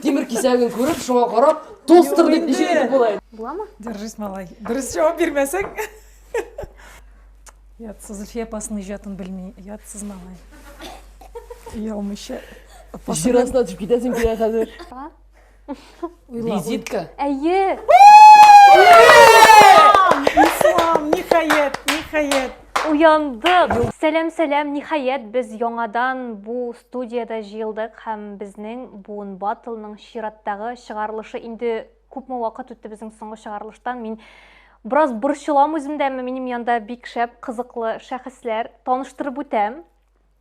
Тимер кисәген күреп, шуңа карап, тостер дип ничек итеп була инде? Буламы? Держись, малай. Дөрес җавап бирмәсәң. Ятсыз Зөлфия апасының иҗатын белми. Ятсыз малай. Ялмыйча. Җир астына төшеп китәсең килә хәзер. Визитка. Әйе. Ислам, ниһаять, ниһаять. Уяндык. Сәлам, сәлам. Ниһаять, без яңадан бу Студиядә җыелдык һәм безнең Буын Батлның чираттагы чыгарылышы инде күпме вакыт үтте безнең соңгы чыгарылыштан. Мин бераз борчылам үземдә, минем янда бик шәп, кызыклы шәхесләр. Таныштырып үтәм.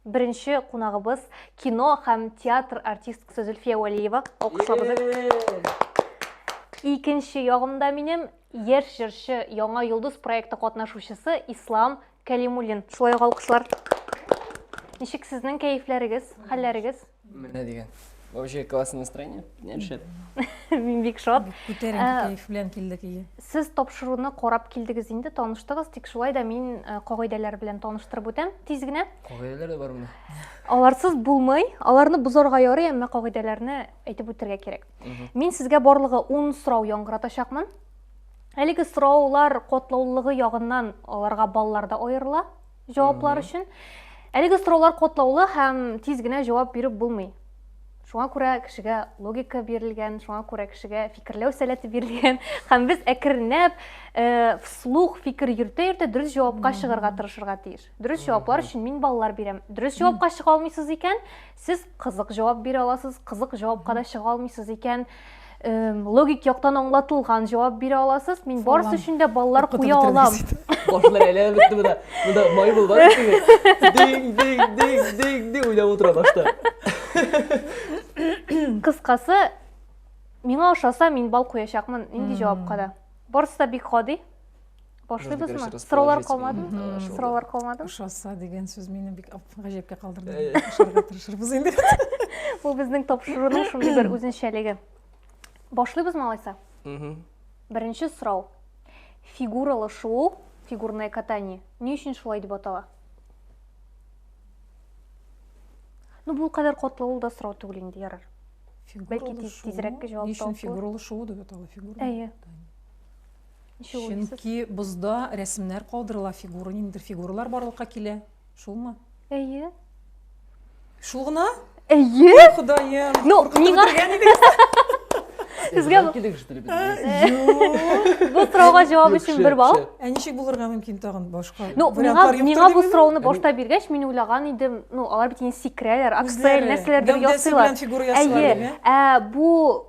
Беренче кунагыбыз кино һәм театр артисткасы Зөлфия Вәлиева. Алкышлабыз. Икенче ягымда минем яшь җырчы Яңа йолдыз проекты катнашучысы Ислам Кәлимуллин, шулай ук алкышлар. Ничек сезнең кәефләрегез, хәлләрегез? Менә дигән. Вообще классное настроение. Нет, шәп. Мин бик шат. Күтәренке э, кәеф белән килдек ие. Сез тапшыруны карап килдегез инде, таныштыгыз, тик шулай да мин э, кагыйдәләр белән таныштырып үтәм тиз генә. Кагыйдәләр дә бармы? Аларсыз булмый. Аларны бозарга ярый, әмма кагыйдәләрне әйтеп үтәргә кирәк. Мин сезгә барлыгы 10 сорау яңгыратачакмын. Әлеге сораулар котлаулылыгы ягыннан аларга баллар да аерыла җаваплар өчен. Әлеге сораулар котлаулы һәм тиз генә җавап биреп булмый. Шуңа күрә кешегә логика бирелгән, шуңа күрә кешегә фикерләү сәләте бирелгән һәм без әкренләп э, вслух фикер йөртә-йөртә дөрес җавапка чыгарга тырышырга тиеш. Дөрес җаваплар өчен мин баллар бирәм. Дөрес җавапка чыга алмыйсыз икән, сез кызык җавап бирә аласыз, кызык җавапка да чыга алмыйсыз икән, логик яктан аңлатылган җавап бирә аласыз. Мин барысы өчен дә баллар куя алам. Башлар әйләнеп бетте монда. Монда май булды. Динг, динг, динг, динг, динг уйлап утыра башта. Кыскасы, миңа ошаса, мин бал куячакмын нинди җавапка да. Барысы да бик гади. Башлыйбызмы? Сораулар калмадымы? Сораулар калмадымы? Ошаса дигән сүз мине бик гаҗәпкә калдырды. Ошарга тырышырбыз инде. Бу безнең тапшыруның шундый бер үзенчәлеге. Башлыйбызмы алайса? Беренче сорау. Фигуралы шуу, фигурное катание, ни өчен шулай дип атала? Ну, бу кадәр котлы ул да сорау түгел инде, ярар. Фигуралы шуу. Бәлки тизрәк җавап табылыр. Ни өчен фигуралы шуу дип атала? Фигурное катание. Чөнки бозда рәсемнәр калдырыла, фигура, ниндидер фигуралар барлыкка килә. Шулмы? Әйе. Шул гына? Әйе. Ходаем. Ну, миңа Сезгә килек шүтелеп Бу сорауга җавап өчен бер балл. Ә ничек булырга мөмкин тагын башка? Ну, миңа миңа бу сорауны башта биргәч, мин уйлаган идем, ну, алар бит инде сикрәләр, аксель нәрсәләрдер ясыйлар. Әйе. Ә бу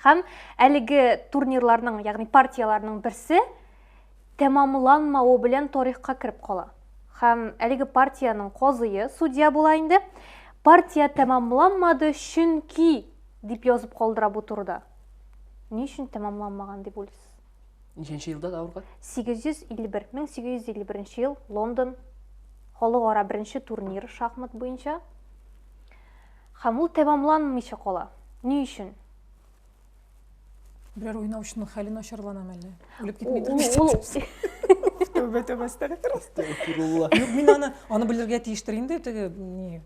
Һәм әлеге турнирларның, ягъни партияләрнең берсе тәмамланмавы белән тарихка кереп кала. Һәм әлеге партиянең казые судья була инде. Партия тәмамланмады, чөнки дип язып калдыра бу турыда. Ни өчен тәмамланмаган дип уйлыйсыз? Ничәнче елда давырга? 851, 1851 ел, Лондон, халыкара беренче турнир шахмат буенча. Һәм ул тәмамланмыйча кала. Ни өчен? Берәр уйнаучының хәле начарланамы әллә? Үлеп китмидер бит. Тәүбә тәүбә әстәгфир. Әстәгфирулла. Юк, мин аны аны белергә тиештер инде теге ни.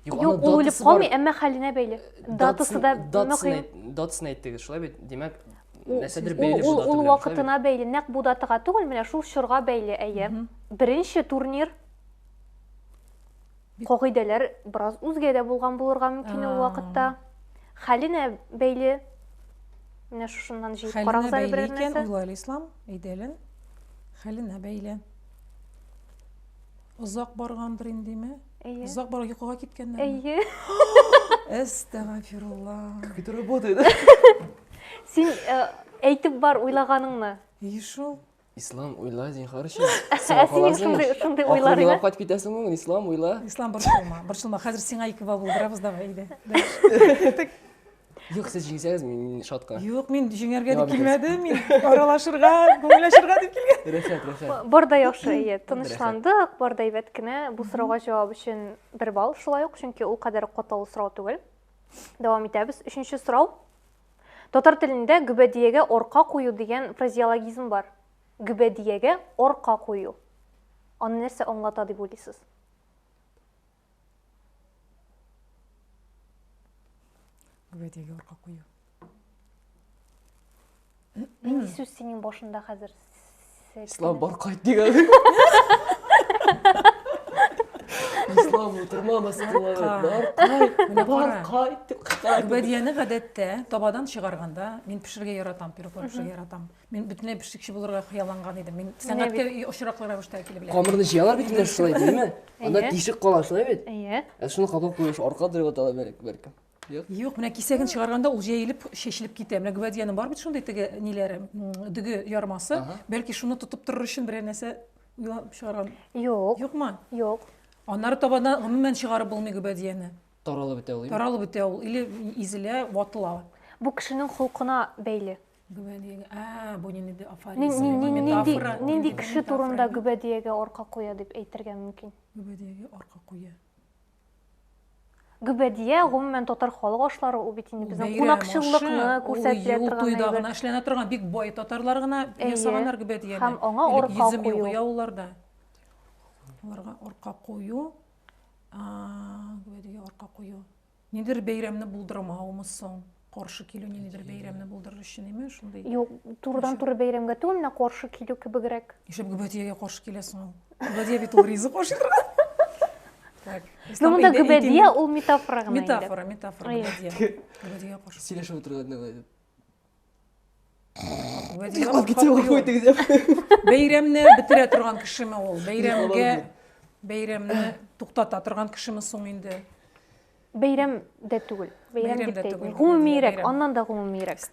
Юк, ул үлеп калмый, әмма хәленә бәйле. Датасы да мөһим. Датасын әйттегез, шулай бит? Димәк, нәрсәдер бәйле бу дата. Ул вакытына бәйле, нәкъ бу датага түгел, менә шул чорга бәйле, әйе. Беренче турнир Кагыйдәләр бераз үзгә дә булган булырга мөмкин ул вакытта. Хәленә бәйле. Менә шушыннан җыеп карагыз әле берәр нәрсә. Хәленә бәйле икән, уйлар ислам, әйдәле. Хәленә бәйле. Озак баргандыр индеме? Әйе. Озак барып йокыга киткәннәр. Әйе. Әстәгфирулла. Как это работает? Син әйтеп бар уйлаганыңны. И шул. Ислам, уйла, зинхар өчен. Ә синең шундый шундый уйлар инде. Кайтып китәсең ул, Ислам, уйла. Ислам борчылма, борчылма. Хәзер сиңа ике бал булдырабыз давай иде. Юк, сез җиңсәгез, мин шатка. Юк, мин җиңәргә дип килмәдем, мин аралашырга, күңелләшергә дип килгән. Рәхәт, рәхәт. Бар да яхшы, әйе, тынычландык, бар да әйбәт кенә. Бу сорауга җавап өчен бер балл шулай ук, чөнки ул кадәр катлаулы сорау түгел. Дәвам итәбез. Өченче сорау. Татар телендә гөбәдиягә арка кую дигән фразеологизм бар. Гөбәдиягә арка кую. Аны нәрсә аңлата дип уйлыйсыз? Гөбәдиягә арка кую. Нинди сүз синең башында хәзер? Ислам бар кайт дигән. Ислам утырма мәсәләләре. Бар кайт, менә бар кайт дип кайтарды. Бәдияне гадәттә табадан чыгарганда мин пешергә яратам, пироглар пешергә яратам. Мин бөтенләй пешекче булырга хыялланган идем. Мин сәнгатькә очраклы рәвештә килеп беләм. Камырны җыялар бит инде шулай, димме? Анда тишек кала шулай бит? Әйе. Ә шуны кабак куеш арка дөреп аталар бәлки. Юк, менә кисәген чыгарганда ул җәелеп, чәчелеп китә. Менә гвадиянең бар бит шундый теге ниләре, дөге ярмасы. Бәлки шуны тотып торыр өчен берәр нәрсә уйлап чыгарган. Юк. Юкмы? Юк. Аннары табада гомумән чыгарып булмый гвадияне. Таралып бетә ул. Таралып бетә ул или изелә, ватыла. Бу кешенең холкына бәйле. Гүбәдиягә. Ә, бу нинди ди афоризм, метафора. Нинди кеше турында гүбәдиягә арка куя дип әйтергә мөмкин? Гүбәдиягә арка куя. Гөбәдия, гомумән татар халык ашлары ул бит инде безнең кунакчыллыкны күрсәтә торган. Туйда гына эшләнә торган бик бай татарлар гына ясаганнар гөбәдияне. Һәм аңа орка кую. Яуларда. Аларга орка кую. Гөбәдия орка кую. Нидер бәйрәмне булдырмаумы соң? каршы килү ниндидер Әйтегез. бәйрәмне булдырыр өчен име шундый Юк, турыдан туры бәйрәмгә түгел, менә каршы килү кебегрәк. ишәп гөбәдиягә каршы киләсең ул гөбәдия бит ул ризык ашый тора так Ну ислам монда өйдә гөбәдия итим- ул метафора гына инде. метафора метафора Ай. гөбәдия гөбәдиягә каршы Сөйләшеп утырган да итеп. Гөбәдия Йоклап ул китсә хакы юк. вахой тигез. бәйрәмне бетерә торган кешеме ул бәйрәмгә Йоклап бәйрәмне туктата торган кешеме соң инде Бәйрәм дә түгел. Бәйрәм дип тә әйтмим. Гомумиерәк, аннан да гомумиерәк.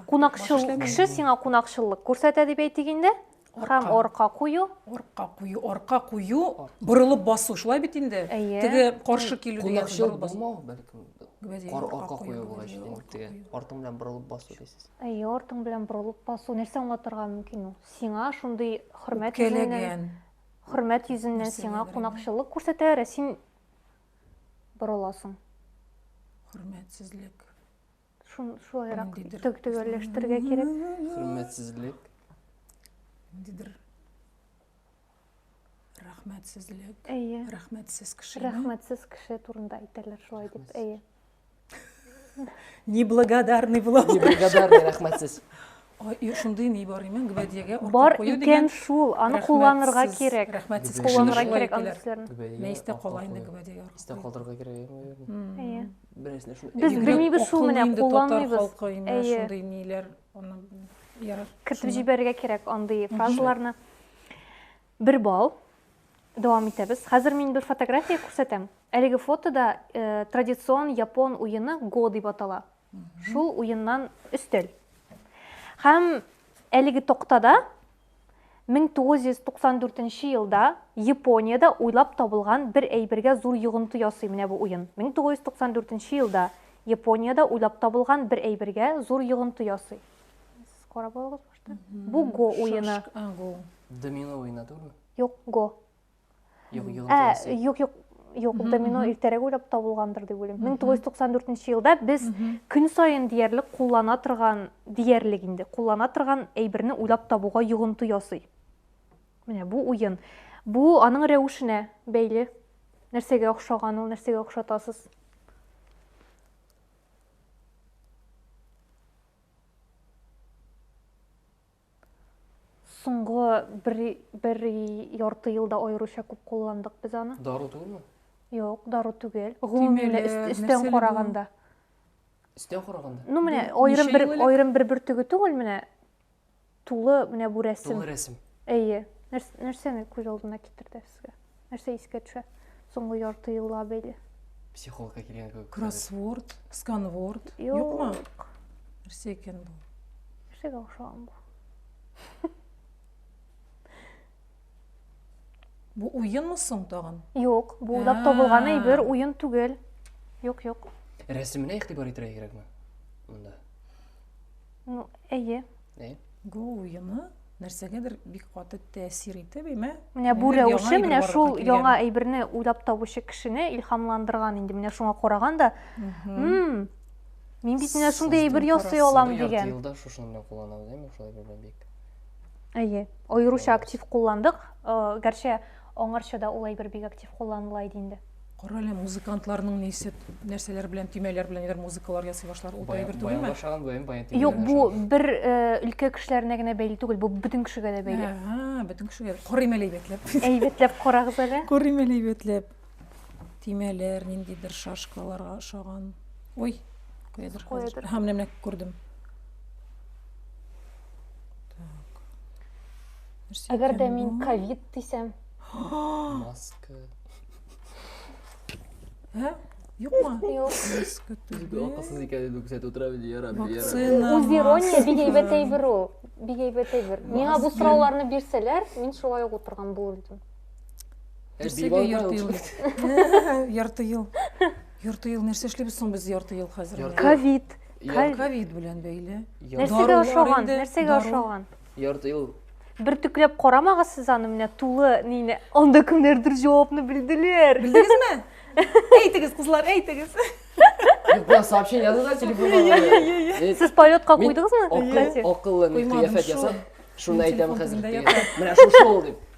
Кунакчыл кеше сиңа кунакчыллык күрсәтә дип әйтик инде. Һәм орка кую. Орка кую, орка кую, борылып басу, шулай бит инде. Теге каршы килү дигән борылып басу. Бәлкем Арка кую булгач, димәк, теге артың белән борылып басу дисез. Әйе, артың белән борылып басу. Нәрсә аңлатырга мөмкин ул? Сиңа шундый хөрмәт йөзеннән, хөрмәт йөзеннән сиңа кунакчыллык күрсәтәләр, ә син борыласың. Хөрмәтсезлек. Шун шулайрак Ниндидер- тө- төгәлләштерергә кирәк. Хөрмәтсезлек. Ниндидер рәхмәтсезлек. Әйе. Рәхмәтсез кеше. Рәхмәтсез кеше турында әйтәләр шулай дип. Рәхмәтсез. Әйе. неблагодарный була неблагодарный рәхмәтсез Ой, шундый ни бар имен гвәдиягә бар икән шул аны кулланырга кирәк рәхмәтсез кулланырга кирәк аны сезләрне мәйстә кала инде гвәдиягә истә калдырырга кирәк әйе берәрсенә шул без белмибез шул менә кулланмыйбыз әйе шундый ниләр аны кертеп җибәрергә кирәк андый фразаларны Бер балл. Дәвам итәбез. Хәзер мин бер фотография күрсәтәм. Әлеге фотода традицион япон уены го дип атала. Шул уеннан өстәл. Һәм әлеге токтада 1994 елда Япониядә уйлап табылган бер әйбергә зур йогынты ясый менә бу уен. 1994 елда Япониядә уйлап табылган бер әйбергә зур йогынты ясый. Карап алыгыз. Bu go уены. Домино уены түгелме? Юк, го. Юк, юк. Ә, юк, юк. Юк, домино иртәрәк уйлап табылгандыр дип уйлыйм. 1994 елда без көн саен диярлек куллана торган, диярлек инде, куллана торган әйберне уйлап табуга йогынты ясый. Менә бу уен. Бу аның рәвешенә бәйле. Нәрсәгә охшаган ул, нәрсәгә охшатасыз? Соңгы бер, бер ярты елда аеруча күп кулландык без аны. Дару түгелме? Юк, дару түгел. Гомумиле өстән караганда. Өстән караганда? Ну, менә аерым бер аерым бер бөртеге түгел, менә Тулы менә бу рәсем. Тулы рәсем. Әйе. Нәрсәне күз алдына китерде сезгә? Нәрсә искә төшә? Соңгы ярты елга бәйле. Психологка килгән кебек. Кроссворд, сканворд. Юкмы? Нәрсә икән бу? Нәрсәгә охшаган бу? Бу уенмы соң тагын? Юк, бу уйлап ә. табылган әйбер, уен түгел. Юк, юк. Рәсеменә игътибар итәргә кирәкме? Монда. Ну, әйе. Әйе. Бу уены нәрсәгәдер бик каты тәэсир итеп, имә. Менә бу рәвеше, менә шул яңа әйберне уйлап табучы кешене илһамландырган инде. Менә шуңа караган да, хм, мин бит менә шундый әйбер ясый алам дигән. Елда шушыны кулланабыз, әйме, шулай бик. Әйе, аеруча актив кулландык. Э, Гәрчә аңарча да ул әйбер бик актив кулланыла иде инде. Кара әле музыкантларның нисеп нәрсәләр белән төймәләр белән әгәр музыкалар ясый башлар, ул әйбер түгелме? Баян башларга гүям баян тимә. Юк, бу бер э, өлкә кешеләренә генә бәйле түгел, бу бөтен кешегә дә бәйле. Ага, бөтен кешегә. Карыйм әле әйбәтләп. Әйбәтләп карагыз әле. Карыйм әле әйбәтләп. төймәләр, ниндидер шашкаларга ошаган. Ой, куядыр хәзер. Һәм менә күрдем. Так. Әгәр дә мин ковид дисәм. Маска. Һә? Юкмы? Юк. Маска түгел. Акылсыз икән инде күрсәтеп утыра бит, ярар, ярар. Вакцина. Үз ирония бик әйбәт әйбер ул. Бик әйбәт әйбер. Миңа бу сорауларны бирсәләр, мин шулай ук утырган булыр идем. Нәрсәгә ярты ел? Ярты ел. Ярты ел нәрсә эшлибез соң без ярты ел хәзер? Ковид. Ковид белән бәйле. Нәрсәгә ошаган? Нәрсәгә ошаган? Ярты ел бер төкләп карамагыз сез аны менә тулы нейне анда кемнәрдер җавапны белделәр белдегезме әйтегез кызлар әйтегез Юкка сообщение язды да телефонга. Сез полетка куйдыгызмы? Акыллы, акыллы, кыяфәт ясап, шуны әйтәм хәзер. Менә шушы ул дип.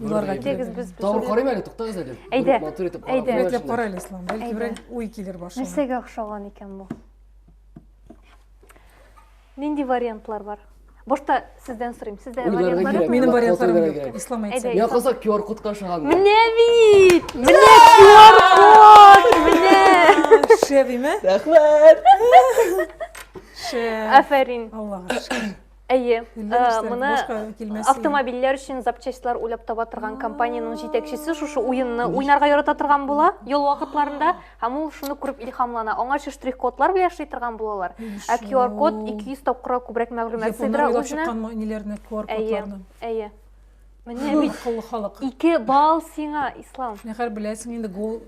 Юларга китегез без. Тагын карыйм әле, туктагыз әле. Әйдә. Матур итеп карап. Әйдә. Рәтләп кара әле, Ислам. Бәлки бер уй килер башына. Нәрсәгә охшаган икән бу? Нинди вариантлар бар? Башта сездән сорыйм. Сездә вариантлар юк. Минем вариантларым юк. Ислам әйтсә. Я кызак QR код кашаган. Менә бит. Менә QR код. Менә. Шәбиме? Рәхмәт. Шәб. Афәрин. Аллага шәб. Әйе, моны автомобильләр өчен запчастьлар уйлап таба торган компаниянең җитәкчесе шушы уенны уйнарга ярата торган була ял вакытларында һәм ул шуны күреп илһамлана. Аңа шул штрих-кодлар белән эшли торган булалар. Ә QR-код 200 тапкырга күбрәк мәгълүмат сыйдыра үзенә. Әйе, әйе. Менә бит кыллы халык. Ике бал сиңа, Ислам. Нәхәр беләсең инде гол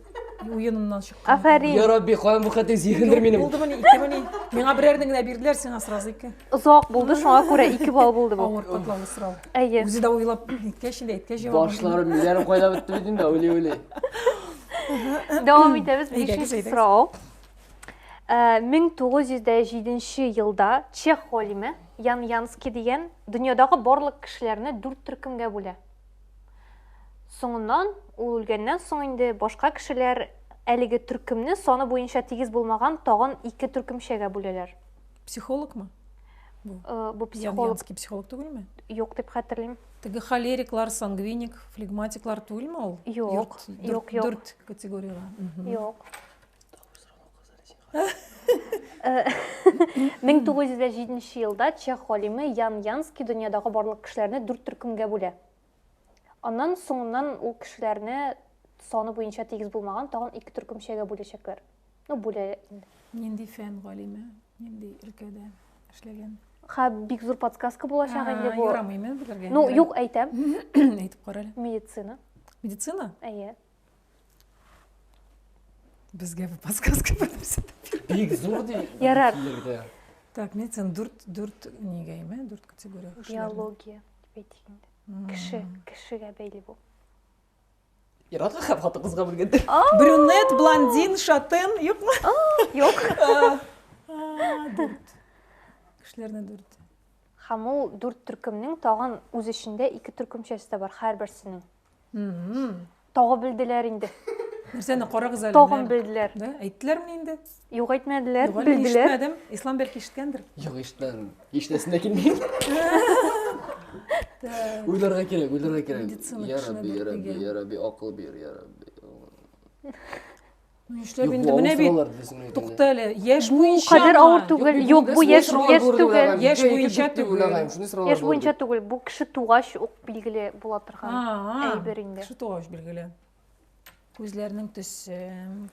уеныннан чыккан. Афәрин. Я Рабби, каян бу хәтле зиһендер минем. Булды мени, ике мени. Миңа берәрне генә бирделәр, сиңа сразу ике. Озак булды, шуңа күрә ике бал булды бу. Авыр катлаулы сорау. Әйе. Үзе дә уйлап иткәч инде, иткәч җавап. Башларым, милләрем кайда бетте бит инде, ули ули. Дәвам итәбез, бишенче сорау. 1907 елда чех галиме Ян Янский дигән дөньядагы барлык кешеләрне дүрт төркемгә бүлә. Соңыннан, ул үлгәннән соң инде башка кешеләр әлеге төркемне саны буенча тигез булмаган тагын ике төркемчәгә бүләләр. Психологмы? Бу, э, бу психолог. Ян Янский психолог түгелме? Юк дип хәтерлим. Теге холериклар, сангвиник, флегматиклар түгелме ул? Юк, юк, юк. Дүрт категорияле. Юк. 1907 э, елда чех галиме Ян Янский дөньядагы барлык кешеләрне дүрт төркемгә бүлә. Аннан соңыннан ул кешеләрне саны буенча тигез булмаган тагын ике төркемчәгә бүләчәкләр. Ну, бүлә инде. Нинди фән галиме? Нинди өлкәдә эшләгән? Ха, бик зур подсказка булачак инде бу. Ярамыймы белергә? Ну, юк, әйтәм. Әйтеп кара әле. Медицина. Медицина? Әйе. Безгә бу подсказка бирмәсен. Бик зур ди. Ярар. Так, мен сен дүрт дүрт нигә име? Дүрт категория. Биология дип әйтик инде. Кеше, кешегә бәйле бу. Иратка һәм хатыгызга бүлгәндер. Брюнет, блондин, шатын, юкмы? Юк. Дүрт. Кешеләрне дүрт. Һәм ул дүрт төркемнең тагын үз эчендә ике төркемчәсе дә бар, һәрберсенең. Тагы белделәр инде. Нәрсәне карагыз әле. Тагын белделәр. Да, әйттеләрме инде? Юк, әйтмәделәр, Юк, белделәр. Ишетмәдем. Ислам бәлки ишеткәндер. Юк, ишетмәдем. Ишетәсем дә килми. Уйларга кирәк, уйларга кирәк. Я Рабби, я Рабби, я Рабби, акыл бир, я Рабби. Нишләп Юк, инде бу менә авыр бит. сораулар диде син әйтәле. Тукта әле. Яшь Бу буенча. кадәр ма? авыр түгел. бу Юк, бу газ яшь сорау яшь бирүләр түгел. һәм Яшь җәйге буенча бетте түгел. уйлагаем, шундый сораулар Яшь була буенча бит. түгел, бу кеше тугач ук билгеле була торган А, әйбер инде. Кеше тугач билгеле. Күзләрнең төсе.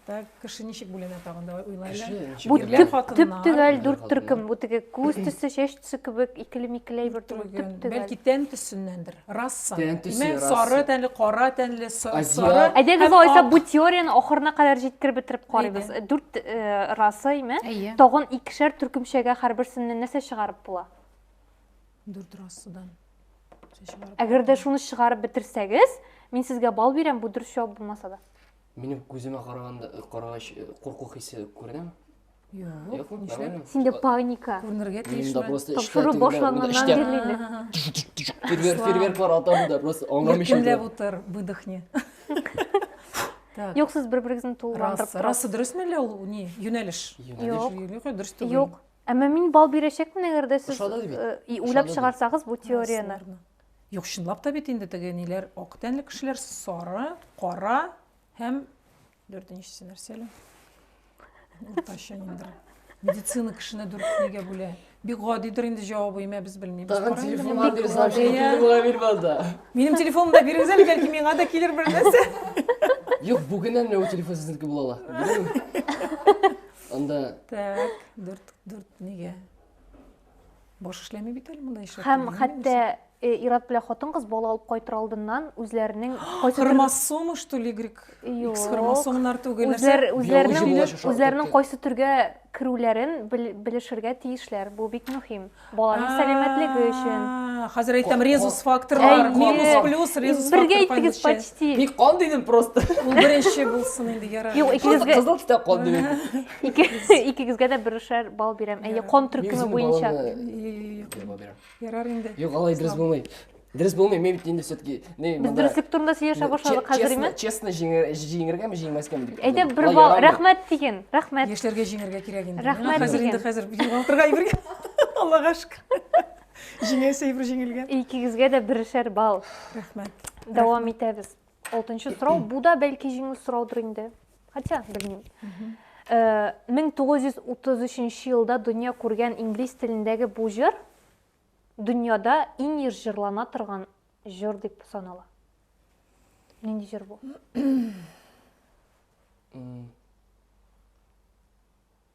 Так, кеше ничек бүленә тагын давай уйлайлы. Кеше, ничек Бу Ирләр, төп, хатыннар. төп төгәл Ирләр, дүрт төркем. Бу теге күз төсе, чәч төсе кебек икеле-микеле әйбер түгел, Төрген. төп төгәл. Бәлки тән төсеннәндер. Расса. Тән төсе, Имән расса. сары тәнле, кара тәнле, са- Азиат. сары. Әйдәгез һәм алайса ак. бу теорияне ахырына кадәр җиткереп бетереп карыйбыз. Әйдә. Дүрт э, раса име? Әйе. Тагын икешәр төркемчәгә һәрберсеннән нәрсә чыгарып була? Дүрт рассадан. Шәй чыгарып. Әгәр дә шуны чыгарып бетерсәгез, мин сезгә бал бирәм, бу дөрес җавап булмаса да. Минем күземә караганда карагач э, курку хисе күренәме? Юк, нишләп? Синдә паника. Күренергә тиеш. Монда просто тапшыру башланганнан бирле. Фейерверк, фейерверклар атам да, просто аңламыйчым. Кемләп утыр, выдохни. Юк, сез бер-берегезне тулыландырып торасыз. Расы дөресме әллә ул ни юнәлеш? Юнәлеш, юнәлеш дөрес түгел. Юк. Әмма мин бал бирәчәкмен, әгәр дә сез уйлап чыгарсагыз бу теорияне. Юк, чынлап та бит инде теге ниләр ак тәнле кешеләр сары, кара һәм Дүртенчесе нәрсә әле? Уртача ниндер. Медицина кешене дүртнегә бүлә. Бик гадидер инде җавабы, имә без белмибез. Тагын Кара инде телефон моны. бирсәм, Гади, шуны ә? килеп була бирмә анда. Минем телефонымны да бирегез әле, бәлки миңа да килер бер нәрсә. Юк, бүгеннән менә ул телефон сезнеке була ала. Беләме? Анда Так, дүрт, дүртнегә. баш эшләми бит әле монда эшләп һәм хәтта э, Ират белән хатын кыз бала алып кайтыр алдыннан үзләренең хромосома что ли Y X хромосомнар түгел үзләр үзләренең үзләренең кайсы төргә керүләрен белешергә тиешләр бу бик мөһим баланың сәламәтлеге өчен хәзер әйтәм резус факторлар минус плюс резус бергә әйттегез почти мин кан дидем просто ул беренче булсын инде ярар юк икегезгә кызыл китап кан дидем Ике, икегезгә дә берешәр бал бирәм. Әйе, кон төркеме буенча. Ярар инде. Юк, алай дөрес булмый. Дөрес булмый, мин бит инде все-таки... Без дөреслек турында сөйләшә башладык хәзер име? Честно җиңергәме, җиңмәскәме дип. Әйдә, бер бал, рәхмәт диген, рәхмәт. Яшьләргә җиңергә кирәк инде. Рәхмәт диген. Хәзер инде хәзер югалтырга ибергә. Аллага шөкер. Җиңәсе ибр җиңелгән. Икегезгә дә берешәр бал. Рәхмәт. Дәвам итәбез. Алтынчы сорау, бу да бәлки җиңү сораудыр инде. Хотя, белмим. 1933 э, елда дөнья күргән инглиз телендәге бу җыр дөньяда иң еш җырлана торган җыр дип санала. Нинди җыр бу?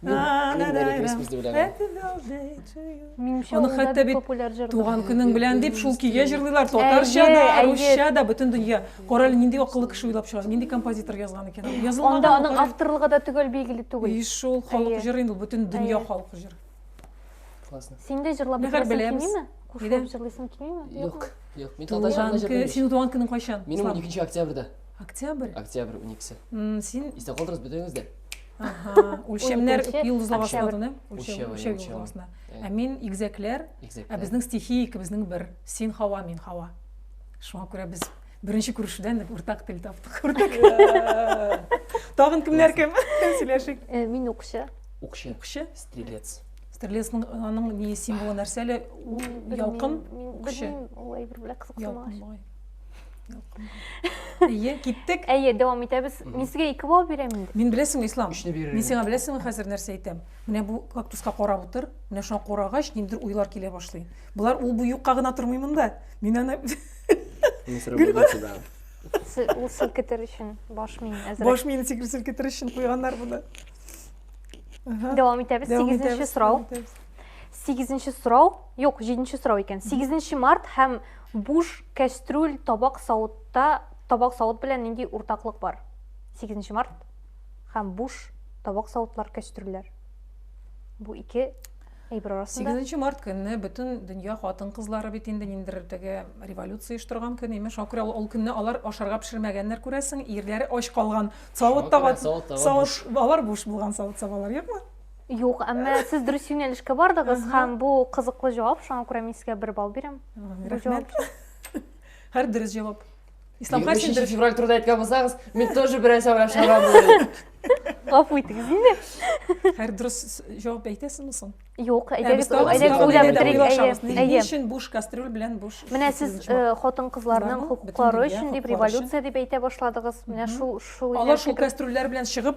Аны хәтта бит туган көнең белән дип шул көйгә җырлыйлар. Татарча да, русча да, бөтен дөнья. Кара әле нинди акыллы кеше уйлап чыгар, нинди композитор язган икән. Язылмаган. Анда аның авторлыгы да төгәл билгеле түгел. И шул халык җыры инде бөтен дөнья халык җыры. Классно. Син дә җырлап бетерәсең килмиме? Кушылып җырлыйсың килмиме? Юк, юк. Мин татарча җырлыйм. Синең туган көнең кайчан? Минем 12 октябрьдә. Октябрь? Октябрь 12-се. Син Истә калдыгыз бөтенегез дә. үлчәмнәр йолдызла башладыны үлчәү йолдызласына ә мин игезәкләр ә безнең стихия икебезнең бер син һава мин һава шуңа күрә без беренче күрешүдән уртак тел таптык тагын кемнәр кем сөйләшик э, мин укчы укчы укчы стрелец стрелецның аның ни символы нәрсә әле ялкын күче ул әйбер белән кызыксынмагач Әйе, киттек. Әйе, дәвам итәбез. Мин сезгә ике балл бирәм инде. Мин беләсең, Ислам. Өчне бирер. Мин сиңа беләсең хәзер нәрсә әйтәм. Менә бу кактуска карап утыр. Менә шуңа карагач, ниндер уйлар килә башлый. Булар ул бу юкка гына тормый монда. Мин аны Ул селкетер өчен баш мин әзер. Баш мин селкетер өчен куйганнар буны. Дәвам итәбез. 8-нче сорау. 8-нче сорау. Юк, 7-нче сорау икән. 8-нче март һәм Буш кәстрүл, табак савытта табак савыт белән нинди уртаклык бар? Сигезенче март һәм буш табак савытлар, кәстрүлләр. Бу ике әйбер арасында. Сигезенче март көнне бөтен дөнья хатын-кызлары бит инде ниндер теге революция оештырган көн, имеш. Ул күрә ул көнне алар ашарга пешермәгәннәр, күрәсең, ирләре ач калган. Савыт таба, савыт, алар буш булган савыт-сабалар юкмы? Юк, әмма сез дөрес юнәлешкә бардыгыз һәм бу кызыклы җавап, шуңа күрә мин сезгә бер балл бирәм. Рәхмәт. Һәр дөрес җавап. Ислам Хәсин дөрес февраль турында әйткән булсагыз, мин тоже берәр сәгать ашарга булдым. Гафу итегез инде. Һәр дөрес җавап әйтәсезме соң? Юк, әйдәгез, әйдәгез уйлап бетерик. Ни өчен буш кастрюль белән буш? Менә сез хатын-кызларның хокуклары өчен дип революция дип әйтә башладыгыз. Менә шул шул Алар шул кастрюльләр белән чыгып,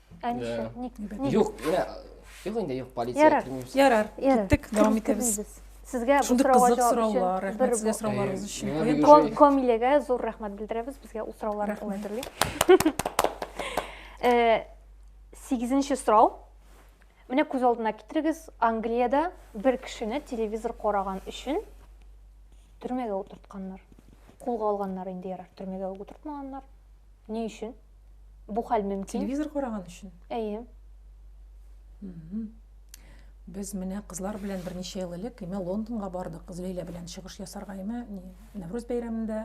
Ә нишләп? Ник? Ник? Юк, менә юк инде юк полиция Ярар. кермибез. Ярар, Ярар, киттек, кер- дәвам итәбез. кермибез. Сезгә бу Шундый сорауга кызык җавап өчен сораулар, бер рәхмәт сезгә сорауларыгыз өчен. Э, Куен миңа ташлый. Ком- Комиләгә зур рәхмәт белдерәбез. Безгә ул сорауларны Рәхмәт. аңлатыр дип. Э, Сигезенче сорау. Менә күз алдына китерегез, Англиядә бер кешене телевизор караган өчен төрмәгә утыртканнар. Кулга алганнар инде ярар, төрмәгә үк утыртмаганнар. Ни өчен? Бу хәл мөмкин. Телевизор караган өчен? Әйе. Без менә кызлар белән берничә ел элек имә Лондонга бардык. Злейлә белән чыгыш ясарга имә Нәврүз бәйрәмендә.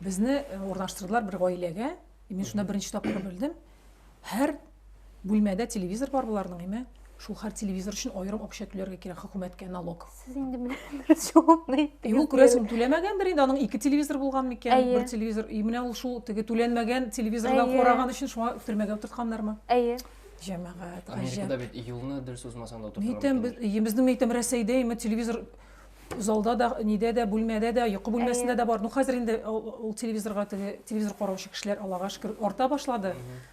Безне э, урнаштырдылар бер гаиләгә. Мин шунда беренче тапкыр белдем. Һәр Бүлмәдә телевизор бар боларның, име? Шул хәр телевизор өчен аерым акча түләргә кирәк хөкүмәткә налог. Сез инде менә дөрес җавапны әйттегез. Юк, күрәсең, түләмәгәндер инде, аның ике телевизор булган микән? Бер телевизор. И менә ул шул теге түләнмәгән телевизордан караган өчен шуңа төрмәгә утыртканнармы? Әйе. Җәмәгать, гаҗәп. Америкада бит юлны дөрес узмасаң да утыртырга. Нитәм без, безнең нитәм Рәсәйдә име телевизор залда да, нидә дә, бүлмәдә дә, йокы бүлмәсендә дә бар. Ну хәзер инде ул телевизорга теге телевизор караучы кешеләр Аллага шөкер арта башлады. Mm -hmm.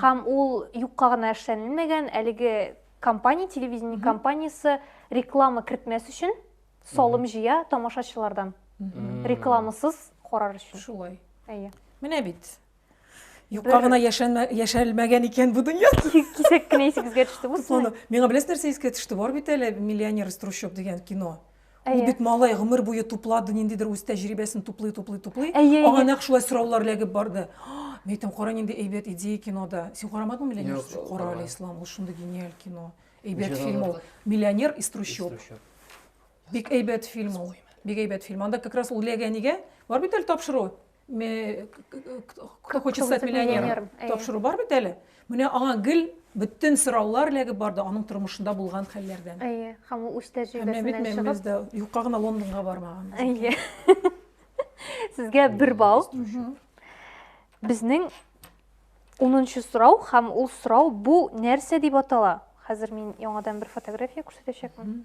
Һәм ул юкка гына эшләнелмәгән, әлеге компания, телевидение компаниясе реклама кертмәс өчен салым җыя тамашачылардан. Рекламасыз карар өчен. Шулай. Әйе. Менә бит. Юкка гына яшәлмәгән икән бу дөнья. Кисәк кенә исегезгә төште бу. Миңа беләсез нәрсә искә төште? Бар бит әле миллионер из трущоб дигән кино. Ул бит малай гомер буе туплады, ниндидер үз тәҗрибәсен туплый, туплый, туплый. Аңа нәкъ шулай сораулар ләгеп барды. Мин әйтәм, кара нинди әйбәт идея кинода. Син карамадыңмы миллионер? Кара әле, Ислам, ул шундый гениаль кино. Әйбәт фильм ул. Миллионер из трущоб. Бик әйбәт фильм ул. Бик әйбәт фильм. Анда как раз ул ләгәнигә бар бит әле тапшыру. кто хочет стать миллионером тапшыру бар бит әле менә аңа гел бөтен сораулар эләгеп барды аның тормышында булган хәлләрдән әйе һәм ул үз тәҗрибәсеннән чыгып юкка гына лондонга бармаган әйе сезгә бер балл безнең унынчы сорау һәм ул сорау бу нәрсә дип атала хәзер мин яңадан бер фотография күрсәтәчәкмен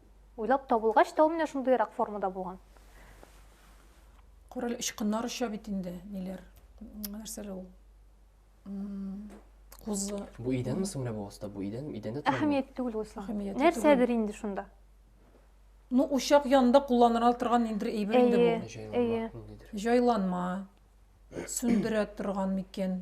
Уйлап табылгач та ул менә шундыйрак формада булган. Күрәле очкыннар оча бит инде, ниләр, нәрсәле ул. Кузы. Бу идәнме соң менә бу аста? Бу идән, идәндә тора. Әһәмият түгел ул ислам. Нәрсәдер инде шунда. Ну, учак янында кулланыла торган инде әйбер инде бу. Җайланма. Җайланма. Сүндерә торган микән?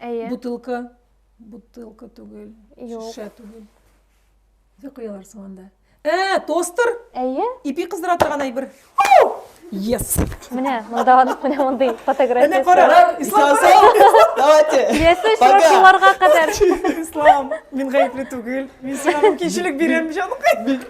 Әйе. Бутылка. Бутылка түгел. Юк. Шешә түгел. Нәрсә куялар соң анда? Ә, тостер! Әйе. Ипи кыздыра торган әйбер. Yes! Менә, монда анык, менә мондый Әнә фотографиясе. кара! Ислам, Давайте! Ясу Пока! шыршыларга кадәр. Ислам, мин гаепле түгел. Мин сиңа мөмкинчелек бирәм, җанкай.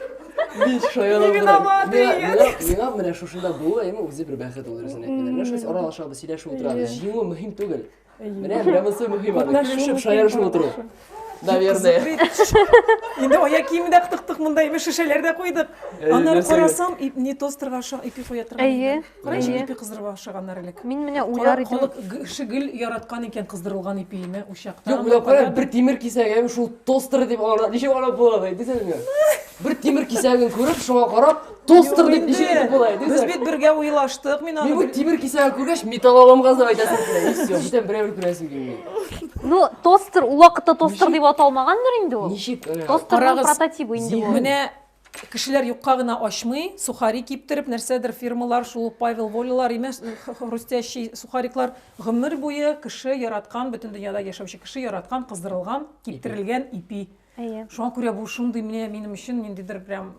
Биш шаяла Мин виноват, Миңа- Игорь. миңа- Миңа менә шушында булу әйме үзе бер бәхет ул дөресен әйткәндә. Менә шулай аралашабыз, сөйләшеп утырабыз. Җиңү мөһим түгел. Менә менә монысы мөһим аны. Көлешеп, шаярышып утыру. Наверное. Инде аяк киеме дә кытыктык монда, име шешәләр дә куйдык. Аннары карасам, не тостерга охшаган ипи куя торган. Әйе. Карачы ипи кыздырырга охшаганнар элек. Мин менә уйлар идем. Халык кеше гел яраткан икән кыздырылган ипине учакта. Юк, менә кара бер тимер кисәгем шул тостер дип алар. Ничек алар була ди? Дисәң, бер тимер кисәген күреп, шуңа карап, Тостер дип ничек итеп була? Без бит бергә уйлаштык, мин аны. Мин бу тимер кисәгә күргәч, металл аламгаз дип әйтәсем килә. И все, бүтән берәү күрәсем килми. Ну, тостер ул вакытта тостер дип аталмаганмыр инде ул. Ничек? Тостерның прототипы инде бу. Менә кешеләр юкка гына ачмый, сухари киптереп, нәрсәдер фирмалар, шул Павел Волилар, имеш, хрустящий сухариклар гомер буе кеше яраткан, бөтен дөньяда яшәүче кеше яраткан, кыздырылган, киптерелгән ипи. Әйе. Шуңа күрә бу шундый менә минем өчен ниндидер прям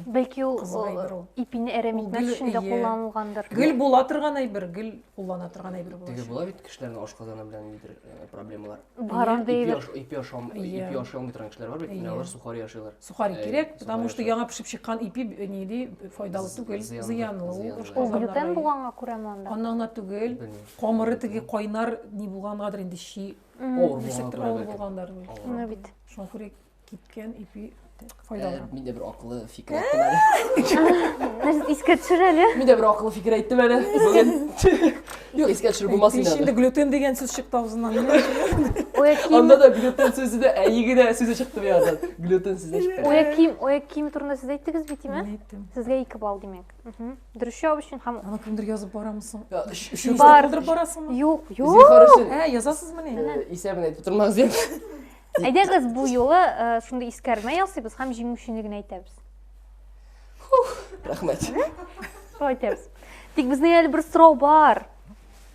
Бәлки ул кызык әйбер ул. ипине әрәм Ул итмәс гел- өчен дә эйе. кулланылгандыр. Гел була торган әйбер, гел куллана торган әйбер була. Теге була бит кешеләрнең ашказаны белән ниндидер э, проблемалар. Бар андый Ипи әйбер. аш- ипи ашам, Иә. ипи ашый алмый торган кешеләр бар бит, Иә. менә алар сухари ашыйлар. Сухари Э, кирәк, потому сухари что ашыйлар. яңа пешеп чыккан ипи б- нили файдалы З- түгел, зыянлы, зыянлы. Ул зыянлы. Ул ашказаннарга глютен юк. булганга күрәме анда? Аннан гына түгел, Белмим. камыры теге кайнар ни булгангадыр инде чи Авыр булган күрә авыр булгандар бит. Менә бит. Шуңа күрә кипкән ипи файдалы. Мин дә бер акыллы фикер әйттем әле. Нәрсә искә төшер әле? Мин дә бер акыллы фикер әйттем әле. Бүген. Юк, искә төшереп булмас инде. Инде глютен дигән сүз чыкты авызыннан. Анда да глютен сүзе дә әйе генә сүзе чыкты бу яктан. Глютен сүзе чыкты. Оя ким, оя ким турында сез әйттегез бит, тиме? Сезгә ике балл димәк. дөрес жауап өчен һәм аны кемдер язып барамысың өчен калдырып барасыңмы юк юк ә язасызмыни исәбен әйтеп тормагыз дип әйдәгез бу юлы шундый искәрмә ясыйбыз һәм җиңүчене генә әйтәбез рәхмәт шулай итәбез тик безнең әле бер сорау бар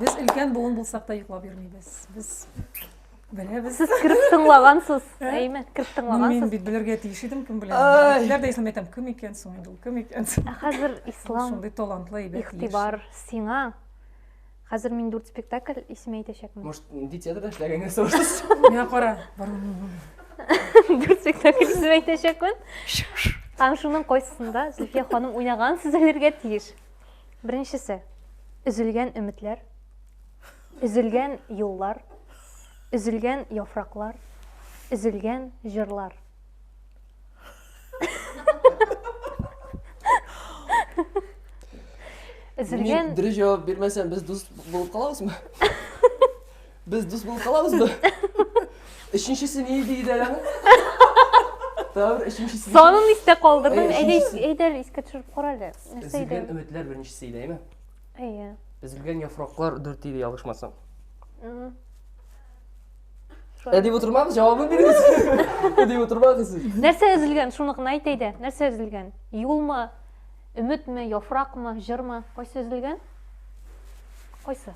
Без өлкән буын булсак та йоклап йөрмибез. Без беләбез. Сез кереп тыңлагансыз, әйме? Кереп тыңлагансыз. Мин бит белергә тиеш идем, кем белә. Әтиләр дә исән әйтәм, кем икән соң инде ул, кем икән соң? Ә хәзер ислам. Шундый талантлы иде. Ихтибар сиңа. Хәзер мин дүрт спектакль исеме әйтәчәкмен. Может, нинди театрда эшләгәнгә сорашсыз? Менә кара. Дүрт спектакль исеме әйтәчәкмен. Һәм шуның кайсысында Зөлфия ханым уйнаган сез әлергә тиеш. Беренчесе, өзелгән өметләр, өзелгән юллар, өзелгән яфраклар, өзелгән җырлар. Үзелгән... Дөрес җавап бирмәсәм, без дус булып калабызмы? Без дус булып калабызмы? Өченчесе ни иде иде әле? Тәвер өченчесе. Санын истә калдырдым. Әй, Әйдә, өченчесе. әйдә, искә төшереп кара әле. Нәрсә Өзелгән иде? өметләр беренчесе иде, әйме? Әйе. Өзелгән яфраклар дүрт иде, ялгышмасам. Мгм. Ә дип утырмагыз, җавабын бирегез. Ә дип утырмагыз сез. Нәрсә өзелгән? Шуны гына әйт әйдә. Нәрсә өзелгән? Юлмы? Өметме? Яфракмы? Җырмы? Кайсы өзелгән? Кайсы?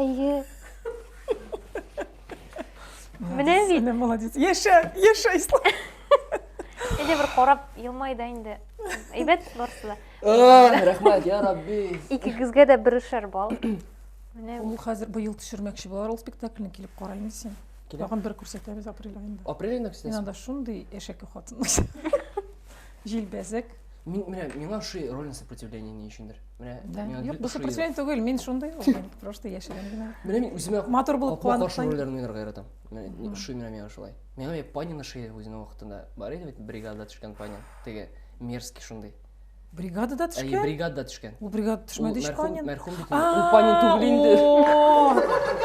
Әйе. Менә бит. Сәләм, молодец. Яшә, яшә, Ислам. Әйдә бер карап елмай да инде. Әйбәт барысы да. Ай, рәхмәт, я Рабби. Икегезгә дә берешәр бал. Менә Ул хәзер быел төшермәкче булар ул спектакльне килеп караймы син? Киләм. Тагын бер күрсәтәбез апрель айында. Апрель айында Мин күрсәтәсең? анда шундый әшәке хатын. Җилбәзәк. Мин менә миңа ши роль сопротивление ни өчендер. Менә миңа юк, бу сопротивление түгел, мин шундый ул, просто яшерен генә. Менә мин үземә матур булып куанып каршы рольләрне уйнарга яратам. Менә ши менә миңа шулай. Миңа бит Панина ши үзенең вакытында бар иде бит бригада төшкән Панин. Теге мерзкий шундый. Бригадада төшкән? Әйе, бригадада төшкән. Ул бригада төшмәде ич Панин. Мәрхүм бит. Ул Панин түгел инде.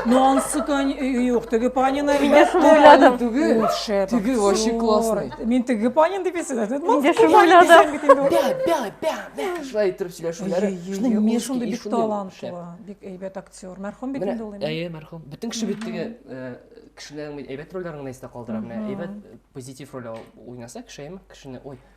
Нонсы көн юк, теге Панин әлбәттә. Шугыладым. Түгел. Теге вообще классный. Мин теге Панин дип исәдәм. Мин дә шугыладым. Бә, бә, бә, бә. Шулай итеп сөйләшүләре. Шуны мин шундый бик талантлы, бик әйбәт актер. Мәрхүм бит инде ул. Әйе, мәрхүм. Бөтен кеше бит теге э, кешеләрнең әйбәт рольләрен генә истә калдыра. Менә әйбәт позитив роль уйнаса кешеем, кешене, ой,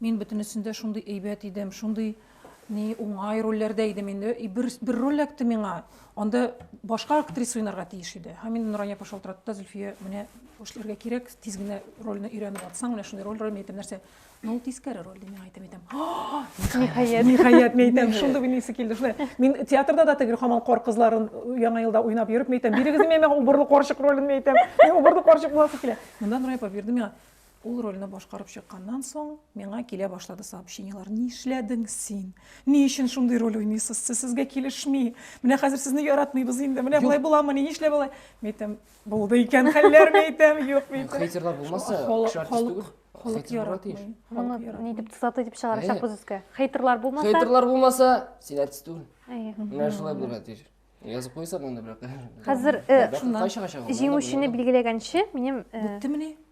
Мин бөтенесендә шундый әйбәт идем, шундый ни уңай рольләрдә идем инде. И бер, бер роль эләкте миңа. Анда башка актриса уйнарга тиеш иде. Һәм инде Нурания апа шалтыратты да, Зөлфия, менә эшләргә кирәк, тиз генә рольне өйрәнеп атсаң, менә шундый роль, роль, мин әйтәм, нәрсә? Ну, тискәре роль, дип мин әйтәм, әйтәм. Ниһаять. Ниһаять, мин әйтәм, шундый уйныйсы килде. Шулай. Мин театрда да теге хамал кар кызларын яңа елда уйнап йөреп, мин әйтәм, бирегез миңа убырлы карчык ролен, мин әйтәм. Мин убырлы карчык буласы килә. Монда Нурания апа бирде миңа. Ул рольне башкарып чыкканнан соң, миңа килә башлады сообщениелар. Нишләдең син? Ни өчен шундый роль уйныйсыз? Сез сезгә килешми. Менә хәзер сезне яратмыйбыз инде. Менә болай буламы? Ни нишләп алай? Мәйтәм, булды икән хәлләр, мәйтәм, юк мәйтәм. Хейтерлар булмаса, кеше артист түгел. Халык яратмый. Моны ни дип тусаты дип чыгарачакбыз өскә. Хейтерлар булмаса? Хейтерлар булмаса, син артист түгел. Менә шулай булырга тиеш. Язып куйсаң инде, бирок. Хәзер җиңүчене билгеләгәнче, минем Беттемени?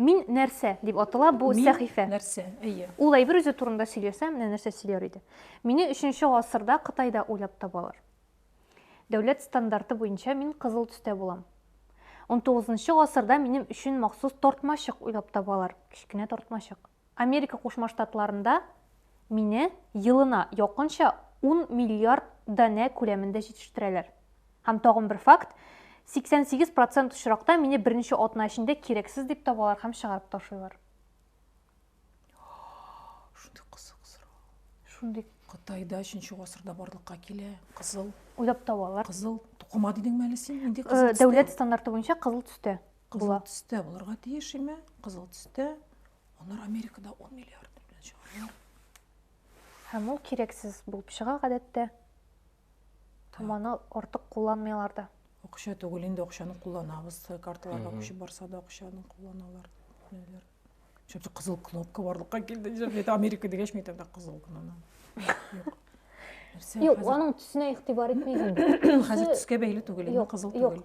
Мин нәрсә дип атала бу Мин сәхифә. Мин нәрсә, әйе. Ул әйбер үзе турында сөйләсә, менә нәрсә сөйләр иде. Мине 3-нче гасырда Кытайда уйлап табалар. Дәүләт стандарты буенча мин кызыл төстә булам. 19-нчы гасырда минем өчен махсус тортмачык уйлап табалар, кечкенә тортмачык. Америка Кушма Штатларында мине елына якынча ун миллиард данә күләмендә җитештерәләр. Һәм тагын бер факт, 88 процент очракта мине берничә атна эчендә кирәксез дип табалар һәм чыгарып ташлыйлар. Шундый кызык сорау. Шундый. Кытайда 3 гасырда барлыкка килә, кызыл. Уйлап табалар. Кызыл тукыма дидеңме әле син? Инде кызыл. Э, дәүләт стандарты буенча кызыл төстә. Кызыл төстә булырга тиеш име? Кызыл төстә. Алар Америкада 10 миллиард белән чыгаралар. Һәм ул кирәксез булып чыга гадәттә. Һәм аны артык кулланмыйлар да. Акча түгел, инде акчаны кулланабыз. Карталарга күчеп барса да акчаны кулланалар. Ниләр. Чөнки кызыл кнопка барлыкка килде. Җәбәт Америка дигәч, мин тәмдә кызыл кнопка. Юк. Юк, аның төсенә игътибар итмәгән. Хәзер төскә бәйле түгел, кызыл түгел.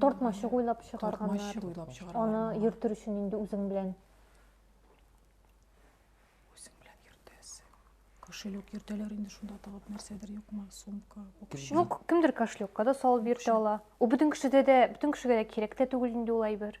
Тартмачык уйлап чыгарганнар. Тартмачык уйлап чыгарганнар. Аны йөртер өчен инде үзең белән. Үзең белән йөртәсе. Кошелек йөртәләр инде шунда тагып нәрсәдер юкмы, сумка, бокча. Юк, кемдер кошелекка да салып йөртә ала. Ул бөтен кешедә дә, бөтен кешегә дә кирәк тә түгел инде ул әйбер.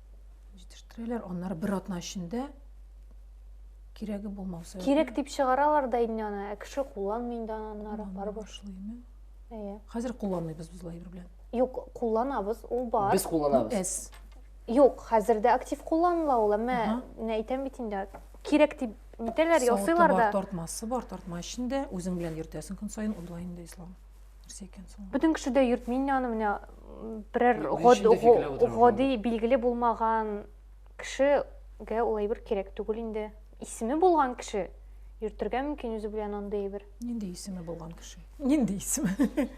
Җитештерәләр, аннары бер атна эчендә кирәге булмау сәбәпле. Кирәк дип чыгаралар да инде аны, ә кеше кулланмый инде аны аннары барыбер. Әйе. Хәзер кулланмыйбыз без лайбер белән. Юк, кулланабыз, ул бар. Без кулланабыз. Эс. Юк, хәзер дә актив кулланыла ул, әмма менә әйтәм бит инде, кирәк дип нитәләр, ясыйлар да. Савыты бар, тартмасы бар, тартма эчендә үзең белән йөртәсең көн саен, уйлай инде Ислам. нәрсә икән соң бөтен кеше дә йөртми инде аны менә берәр гади билгеле булмаган кешегә ул әйбер кирәк түгел инде исеме булган кеше йөртергә мөмкин үзе белән андый әйбер нинди исеме булган кеше нинди исеме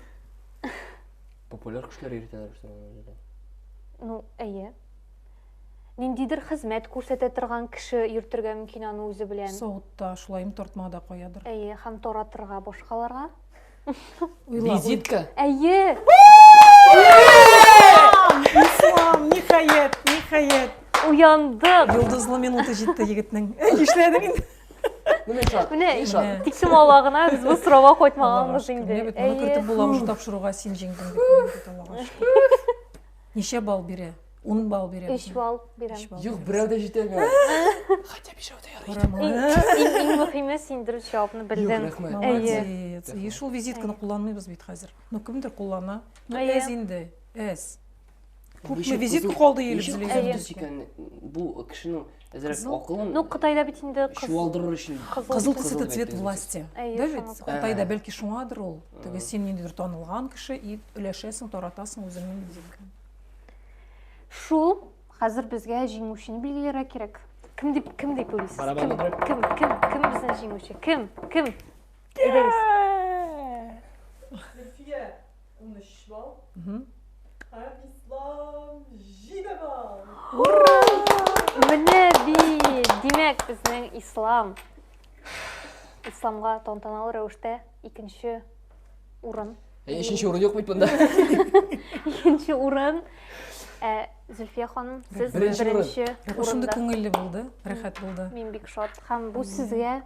популяр кешеләр йөртәләр шул ну әйе ниндидер хезмәт күрсәтә торган кеше йөртергә мөмкин аны үзе белән савытта шулаем тартмада каядыр әйе һәм таратырга башкаларга Визитка. Әйе. Ислам, ниһаять, ниһаять. Уяндык. Йолдызлы минуты җитте егетнең. Нишләдең инде? Менә шат. Менә шат. Тик сумала гына без бу сорауга кайтмаганбыз инде. Менә бит моны кертеп була уже тапшыруга син җиңдең дип. Ничә балл бирә? Ун балл бирәм. Өч балл бирәм. Юк, берәү дә җитәме? Хәтта бишәү дә ярый. Иң иң мөһиме син дөрес җавапны белдең. Молодец. И шул визитканы кулланмыйбыз бит хәзер. Ну кемдер куллана. Ну әз инде. Әз. Күпме визит калды елыбызлы. Әз икән бу кешенең әзрәк акылын. Ну Кытайда бит инде кыз. Чуалдырыр өчен. Кызыл төс это цвет власти. Да бит? Кытайда бәлки шуңадыр ул. Теге син ниндидер танылган кеше и өләшәсең, таратасың үзеңнең визитканы. Шул, хәзер безгә җиңүчене билгеләргә кирәк. Кем дип, кем дип уйлыйсыз? Кем, кем, кем, кем безнең җиңүче? Кем, кем? Әйдәгез. Зөлфия, 13 балл. Һәм Ислам, 7 балл. Ура! Менә бит! Димәк, безнең Ислам. Исламга тантаналы рәвештә Икенче урын. Ә өченче урын юк бит монда. Икенче урын. Ә Зөлфия ханым, сез Беренче урын. беренче Шундый урында. күңелле булды, рәхәт булды. Мин бик шат. Һәм бу сезгә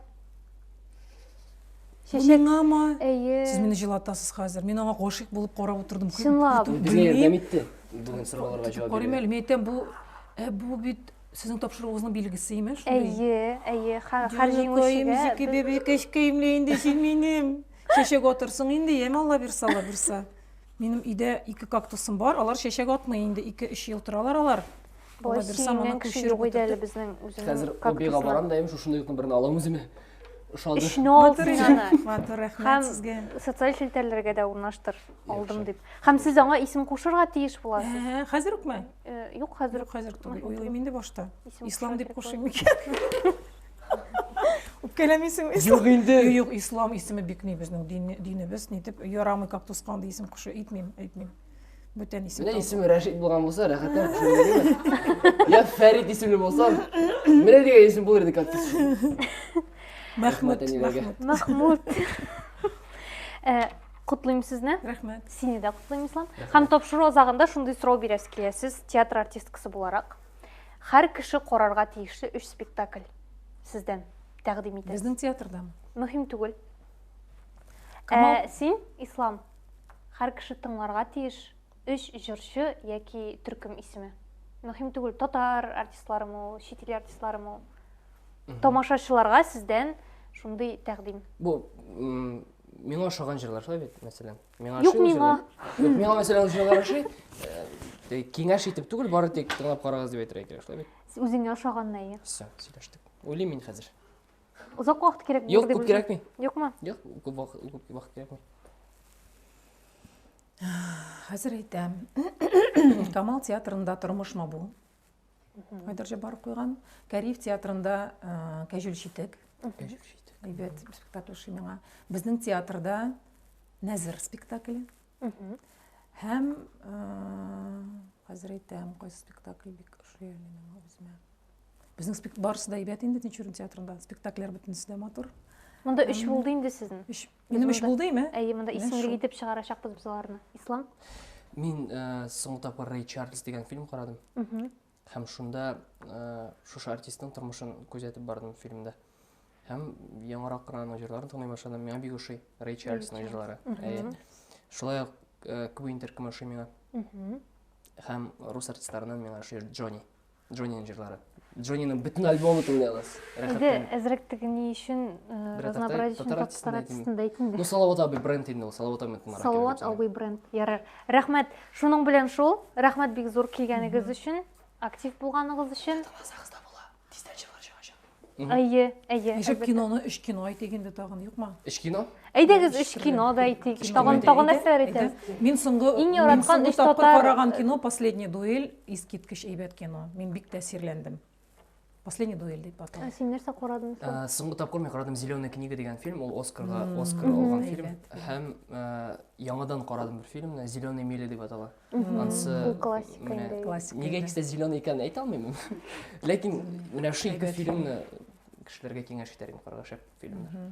чәчәк. Миңамы? Әйе. Сез мине җылатасыз хәзер. Мин аңа гашыйк булып карап утырдым. Чынлап. Безгә ярдәм итте. Бүген сорауларга җавап Карыйм бирә. әле, мин әйтәм, бу, ә бу бит Сезнең тапшыруыгызның билгесе име шундый? Әйе, әйе, хәрҗи мөшегә. Җаныкаем, бәбәкәч киемле инде син минем. Чәчәк атырсың инде, яме Алла бирса, Алла бирса. Минем өйдә ике кактусым бар, алар чәчәк атмый инде, ике өч ел торалар алар. Алла бирса, моны күчереп утыртып. Хәзер обига барам да, шушындый юкны берне алам үземә. ошады өчен ал син аны матур рәхмәт сезгә социаль челтәрләргә дә урнаштыр алдым дип һәм сез аңа исем кушырга тиеш буласыз ә, хәзер үкме э, юк хәзер юк хәзер түгел уйлыйм инде башта ислам дип кушыйм микән үпкәләмисең юк инде юк ислам исеме бик ни безнең динебез нитеп ярамый кактус кандай исем кушу әйтмим әйтмим Бүтән исем. Менә исеме Рәшит булган булса, рәхәтләнеп төшендегезме? Я Фәрит исемле булсам, менә дигән исем булыр иде как Мәхмүт. Мәхмүт. Э, Котлыйм сезне. Рәхмәт. Сине дә котлыйм, Ислам. Һәм тапшыру азагында шундый сорау бирәсе килә. Сез театр артисткасы буларак һәр кеше карарга тиешле өч спектакль сездән тәкъдим итәбез. Безнең театрдамы? Мөһим түгел. Ә, син, Ислам, Хәр кеше тыңларга тиеш. Өч җырчы яки төркем исеме. Мөһим түгел, татар артистларымы ул, чит ил артистларымы ул. Тамашачыларга сездән шундый тәкъдим. Бу миңа ошаган җырлар шулай бит, мәсәлән. Миңа Юк миңа. Юк миңа мәсәлән ул җырлар ошый. Э, киңәш итеп түгел, бары тик тыңлап карагыз дип әйтергә кирәк, шулай бит? Үзеңә ошаганны әйе. Все, сөйләштек. Уйлыйм мин хәзер. Озак вакыт кирәк Юк, күп кирәкми. Юкмы? Юк, күп вакыт, күп вакыт кирәкми. Хәзер әйтәм. Камал театрында тормышмы бу? Айдар Җабаров куйган. Кәриф театрында Кәҗүл читек. Кәҗүл читек. Әйбәт спектакль ши миңа. Безнең театрда Нәзер спектакле. Һәм хәзер әйтәм, кайсы спектакль бик ошый әле миңа үземә. Безнең спект барысы да әйбәт инде Тинчурин театрында. Спектакльләр бөтенесе дә матур. Монда өч булды инде сезнең. Өч. Минем өч булды име? Әйе, монда исемлек итеп чыгарачакбыз без аларны. Ислам? Мин соңгы тапкыр Рэй Чарльз дигән фильм карадым. Һәм шунда э, шушы артистның тормышын күзәтеп бардым фильмда. Һәм яңарак кына аның җырларын тыңлый башладым. Миңа бик ошый Рэй Чарльзның җырлары. Әйе. Шулай ук э, Квин Интерком ошый миңа. Һәм рус артистларыннан миңа ошый Джонни. Джонниның җырлары. Джонниның бөтен альбомы тыңлыйлар. Әйдә, әзрәк теге ни өчен э, разнообразие өчен татар артистын әйтим. Ну, Салават абый бренд инде ул, Салават абый Салават абый бренд. Ярар. Рәхмәт. Шуның белән шул. Рәхмәт бик зур килгәнегез өчен, актив булганыгыз өчен. Таласагызда була. Тиздән чыгар чыгачак. Әйе, әйе. Ничек киноны өч кино әйтик инде тагын, юкмы? Өч кино? Әйдәгез өч кино да әйтик. Тагын тагын нәрсәләр әйтәбез? Мин соңгы иң яраткан өч татар караган кино Последний дуэль, искиткеч әйбәт кино. Мин бик тәэсирләндем. последний дуэль дип атала ә син нәрсә карадың ә, соңгы тапкыр мин карадым зеленая книга деген фильм ул оскарга оскар алган фильм һәм ә, яңадан карадым бер фильмны зеленая миля дип атала анысы классика нигә икесе зеленый икәнен әйтә алмыйм ләкин менә шул ике фильмны кешеләргә киңәш итәргә караша фильмнар